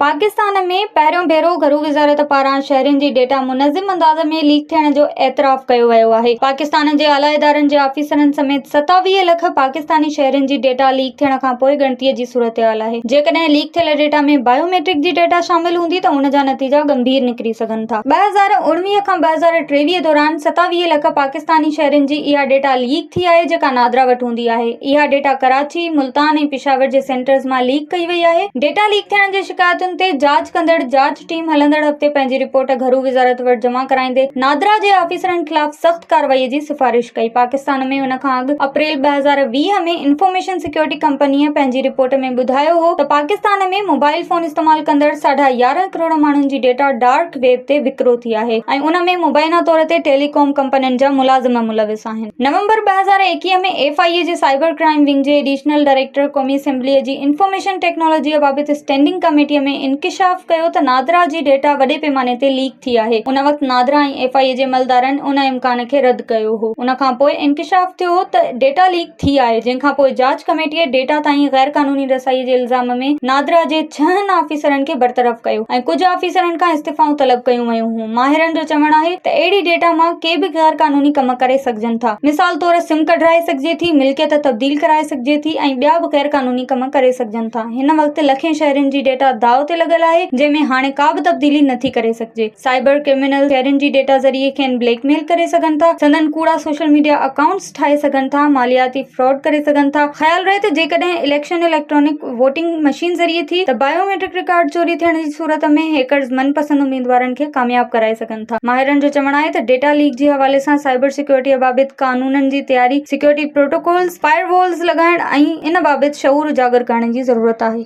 پاڪستان ۾ پهريون ڀيرو گهرو وزارت پاران شهرين جي ڊيٽا منظم انداز ۾ ليڪ ٿيڻ جو اعتراف ڪيو ويو آهي پاڪستان جي اعليٰ ادارن جي آفيسرن سميت ستاويهه لک پاڪستاني شهرين جي ڊيٽا ليڪ ٿيڻ کانپوء ڳڻتي جي صورتحال آهي جيڪڏهن ليڪ ٿيل ڊيٽا ۾ بايو ميٽرڪ جي ڊيٽا شامل هوندي ته ان جا نتيجا ڳنڀير نڪري سگهن ٿا ٻه هزار اوڻويهه کان ٻه هزار ٽيويهه دوران ستاويهه لک پاڪستاني پاڪستاني شهرين جي اها ڊيٽا ليڪ ٿي آهي جيڪا نادرا وٽ هوندي آهي اها ڊيٽا ڪراچي ملتان ۽ پشاور جي سينٽرز مان ليڪ ڪئي وئي آهي ڊيٽا ليڪ ٿيڻ جي شڪايتن تي جاچ ڪندڙ جاچ ٽيم هلندڙ هفتي پنهنجي رپورٽ گهرو وزارت وٽ جمع ڪرائيندي نادرا جي آفيسرن خلاف سخت ڪارروائي جي سفارش ڪئي پاڪستان ۾ ان کان اڳ اپريل ٻه هزار ويهه ۾ انفارميشن سيڪيورٽي ڪمپنيء پنهنجي رپورٽ ۾ ٻڌايو هو ته پاڪستان ۾ موبائل فون استعمال ڪندڙ ساڍا يارهن ڪروڙ ماڻهن جي ڊيٽا ڊارڪ ويب تي وڪرو ٿي آهي ۽ ان ۾ مبينا طور تي ٽيلي ڪام ڪمپنين جا ملازم ملوث آهن. نومبر ٻه هزار ايڪيهه ۾ ايف آء اي جي سائبر ڪرائيم ونگ جي ايڊيشنل ڊائريڪٽر قومي اسيمبليء جي انفارميشن ٽيڪنالاجيء بابت اسٽينڊنگ ڪميٽيء ۾ انڪشاف ڪيو ته نادرا جي ڊيٽا وڏي پيماني تي ليڪ ٿي آهي. ان وقت نادرا ۽ ايف آء اي جي عملدارن ان امڪان کي رد ڪيو هو. ان کانپوء انڪشاف ٿيو هو ته ڊيٽا ليڪ. ٿي آهي، جنهن کان پوء جاچ ڪميٽيء ڊيٽا تائين غيرقانوني رسائيء جي الزام ۾ نادرا جي ڇهن آفيسرن کي برطرف ڪيو ۽ ڪجهه آفيسرن کان استعفائون طلب ڪيون ويون هيون. ماهرن جو چوڻ آهي ته اهڙي ڊيٽا مان ڪي به غيرقانوني ڪم ڪري سگهجن ٿا. مثال طور سم ڪڍرائي سگهجي ٿي، ملڪيت تبديل ڪرائي سگهجي ٿي ۽ ٻيا به غيرقانوني ڪم ڪري سگهجن ٿا. هن وقت لکين شهرين جي ڊيٽا داء تي لڳل آهي، جنهن ۾ هاڻي ڪا به تبديلي نه ٿي ڪري سگهجي. سائبر ڪرمنلز شهرين جي ڊيٽا ذريعي کين بليڪ ميل ڪري سگهن ٿا، سندن ڪوڙا سوشل ميڊيا اڪائونٽس، ٺاهي سگهن ٿا، مالياتي فراڊ ڪري سگهن ٿا، خيال رهي ته جيڪڏهن اليڪشن اليڪٽرانڪ ووٽنگ مشين ذريعي ٿي ته بايو ميٽرڪ رڪارڊ چوري ٿيڻ جي صورت ۾ هيڪرز من پسند اميدوارن کي ڪامياب ڪرائي سگهن ٿا، ماهرن جو چوڻ آهي ته ڊيٽا ليڪ جي حوالي سان سائبر سيڪيورٽيء بابت قانونن جي تياري، سيڪيورٽي پروٽوڪولز، فائر والز لڳائڻ ۽ ان بابت شعور اجاگر ڪرڻ جي ضرورت آهي.